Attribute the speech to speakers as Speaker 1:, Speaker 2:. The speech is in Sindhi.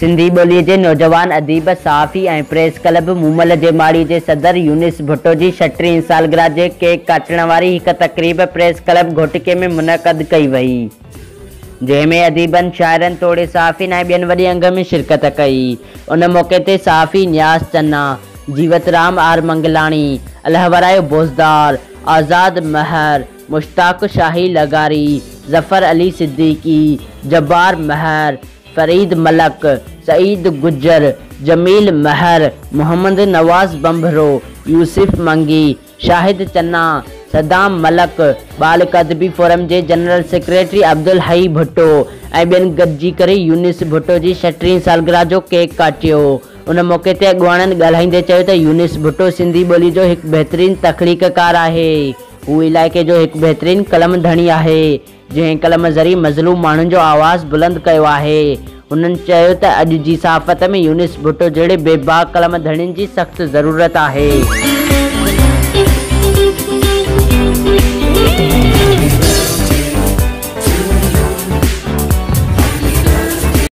Speaker 1: سنڌي ٻوليء جي نوجوان اديب، صحافي ۽ پريس ڪلب مومل جي ماڙي جي صدر يونس ڀٽو جي شٽرهين سالگرهه جي ڪيڪ ڪاٽڻ واري هڪ تقريب پريس ڪلب گهوٽڪي ۾ منعقد ڪئي وئي، جنهن ۾ اديبن، شاعرن توڙي صحافين ۽ ٻين وڏي انگ ۾ شرڪت ڪئي. ان موقعي تي صحافي نياز چنا، جيوت رام آر منگلاڻي، الهورايو بوزدار، آزاد مهر، مشتاق شاهي لغاري، ظفر علي صديقي، جبار مهر، فريد ملڪ، سعيد گجر، جميل مهر، محمد نواز ڀنڀرو، يوسف منگي، شاهد چنا، صدام ملڪ، ٻالڪ ادبي فورم جي جنرل سيڪريٽري عبدالحئي ڀٽو ۽ ٻين گڏجي ڪري يونس ڀٽو جي شٽرهين سالگرهه جو ڪيڪ ڪاٽيو. ان موقعي تي اڳواڻن ڳالهائيندي چيو ته يونس ڀٽو سنڌي ٻولي جو هڪ بهترين تخليقڪار آهي. هو علائقي جو هڪ بهترين قلم ڌڻي آهي. جنهن قلم ذريعي مظلوم ماڻهن جو آواز بلند ڪيو آهي. هنن چيو ته اڄ جي صحافت ۾ يونس ڀٽو جهڙي بي باڪ قلم ڌڻين جي سخت ضرورت آهي.